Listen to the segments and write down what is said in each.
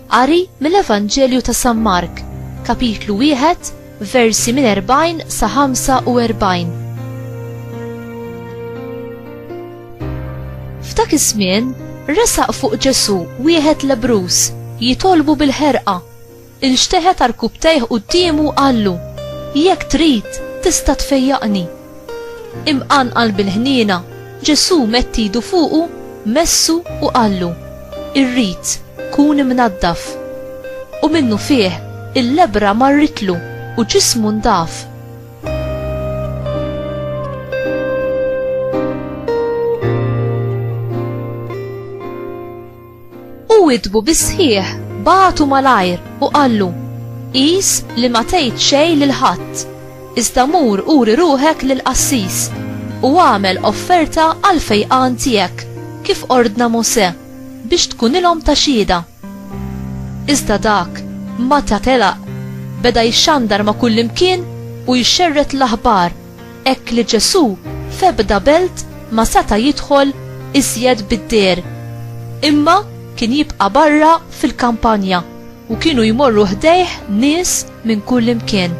Qari mill-Evanġelju ta' San Mark, kapitlu 1, versi minn 40 sa 45. F'dak iż-żmien resaq fuq Ġesu wieħed lebrus jitolbu bil-ħerqa. Inxteħet arkubtejh quddiemu qallu, Jekk trid, tista' tfejjaqni. Imqanqal bil-ħniena, Ġesù medd idu fuqu, messu u qallu, Irrid, kun imnaddaf. U minnufih, il-lebbra marritlu u ġismu ndaf. U witbu bis-sħiħ, bagħtu malajr u qallu, Qis li ma tgħid xejn lil ħadd, iżda mur uri ruħek lill-qassis, u agħmel offerta għall-fejqan tiegħek, kif ordna Mosè, biex tkunilhom ta' xhieda. Iżda dak, meta telaq, beda jxandar ma' kullimkien u jxerred l-aħbar Hekk li Ġesù f'ebda belt ma seta' jidħol iżjed bid-deher, imma kien jibqa' barra fil-kampanja u kienu jmorru ħdejh nies minn kullimkien.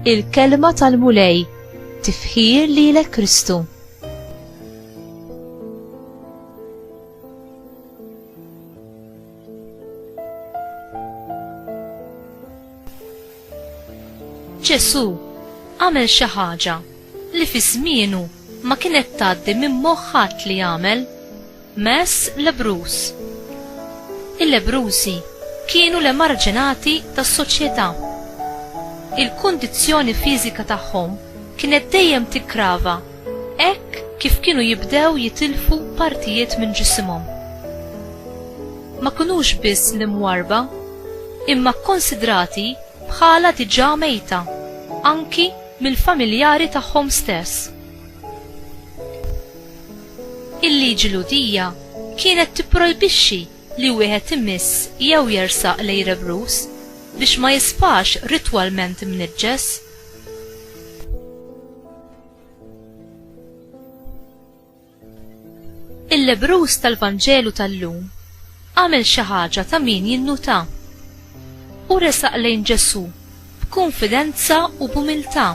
Il-kelma tal-Mulej tifħir lilek Kristu. Ġesu għamel xi ħaġa li fi żmienu ma kienet tgħaddi minn moħħat li jagħmel mess lebrus. Il-lebrusi kienu le marġinati tas-soċjetà. Il-kundizzjoni fiżika tagħhom kienet dejjem tikkrava hekk kif kienu jibdew jitilfu partijiet minn ġisimhom. Ma kinux biss l-imwarrba, imma kkonsidrati bħala diġà mejta anki mill-familjari tagħhom stess. Il-liġi Lhudija kienet tipprojbixxi li wieħed imiss jew jersaq l-għerebruż biex ma jisfax ritwalment imniġġes. Il-lebrus tal-Vanġelu tal-lum għamel xi ħaġa ta' min jinnuta. U resaq lejn Ġesù b'kunfidenza u b'umiltà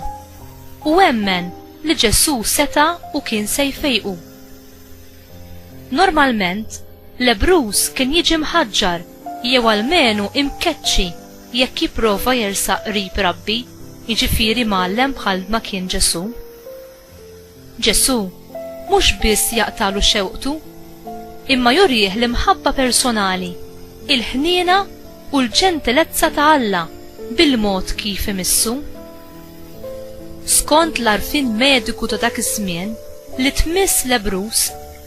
u emmen li Ġesù seta' u kien se jfejqu. Normalment, lebrus kien jiġi mħaġġar jew almenu imkeċċi Jekk jipprova jersaq qrib Rabbi, jiġifieri mgħallem bħal ma kien Ġesù. Ġesù mhux biss jaqtagħlu xewqtu, imma jurih l-imħabba personali, il-ħniena u l-ġentilezza ta' Alla bil-mod kif imissu. Skont l-għarfien mediku ta' dak iż-żmien, li tmiss lebbruż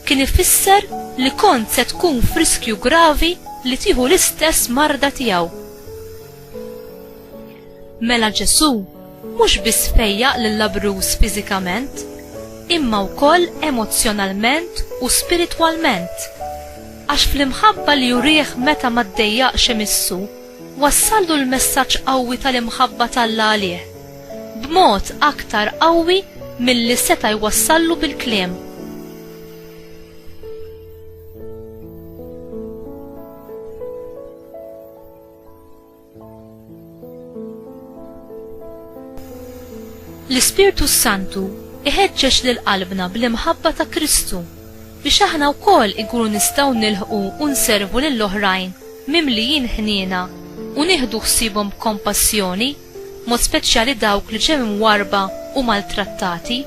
kien ifisser li kont se tkun friskju gravi li tieħu l-istess marda tiegħu. Mela Ġesù mhux biss fejjaq lil labruż fiżikament, imma wkoll emozzjonalment u spiritwalment. Għax fl-imħabba li jurih meta ma ddejjaqx imissu, Wassallu l-messaġġ qawwi tal-imħabba t'Alla għalih, b'mod aktar qawwi milli seta' jwassallu bil-kliem. L-Ispirtu s-Santu jħeġġeġ lil qalbna bl-imħabba ta' Kristu. biex aħna wkoll inkunu nistgħu nilħqu u nservu lil oħrajn mimlijin ħniena u nieħdu ħsiebhom b'kompassjoni, b'mod speċjali dawk li ġew imwarrba u maltrattati.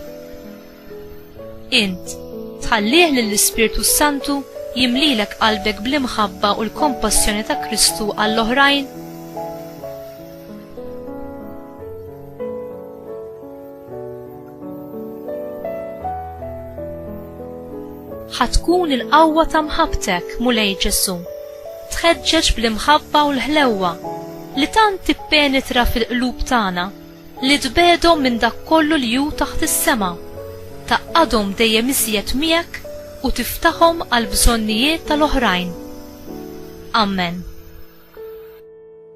Int, tħallih lill-Ispirtu s-Santu jimlilek qalbek bl-imħabba u l-kompassjoni ta' Kristu għall-oħrajn? Ħa tkun il-qawwa ta' mħabbtek, Mulej Ġesù, tħeġġeġ bl-imħabba u l-ħlewwa li tant tippenetra fil-qlub tagħna li tbegħdhom minn dak kollu li hu taħt is-sema, tgħaqqadhom dejjem iżjed miegħek u tiftaħhom għall-bżonnijiet tal-oħrajn. Amen.